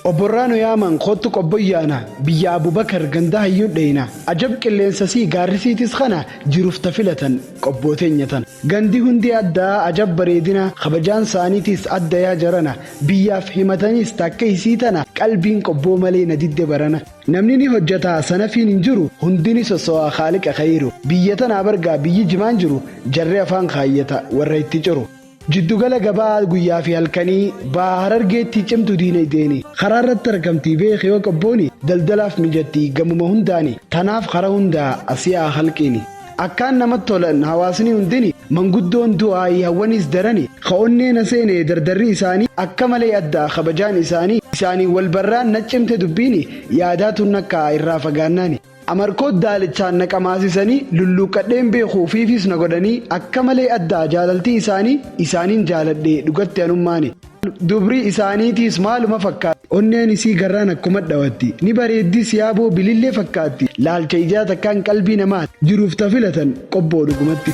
Obborraa nu yaaman koottu qobboyyaana biyya Abubakar ganda hayyuun dheeyna ajab qilleensa sii gaarri siitis kana jiruuf ta filatan qobboo teenya tana gandi hundi addaa ajab bareedina kabajaan saaniitiis adda yaa jarana biyyaaf himataniis ta akka isii tana qalbiin qobboo malee na didde barana namni ni hojjata sanafiin hin jiru hundi ni sossowaa khaaliqa khayiru biyya tanaa bargaa biyyi jimaan jiru jarri afaan khaayyata warra itti ciru. Jiddugala gabaa guyyaa fi halkanii Baha Harargeetti cimtu diinagdeeni karaa irratti argamti beeki yoo qabbooni daldalaaf mijatti gamuma hundaani tanaaf kara hundaa asi haa kalqiini akkaan namat tolan hawaasni hundini manguddoon du'aayi hawwaniis darani ka onnee na seene dardarri isaani akka malee adda kabajaan isaani isaaniin wal barraan nat cimte dubbiini yaadaa tun akka irraa fagaannaani Amarkoo daalichaan na qamaasisanii lulluuqqadheen beeku ufiifiis na godhanii akka malee addaa jaalaltii isaanii isaaniin jaaladhe dhugatti anummaani dubrii isaaniitiis maaluma fakkaatti onneen isii garraan akkuma dhawatti ni bareeddii siyaaboo bilillee fakkaatti laalcha ijaa takkaan qalbii namaati jiruuf ta filatan qobboo dhugumatti.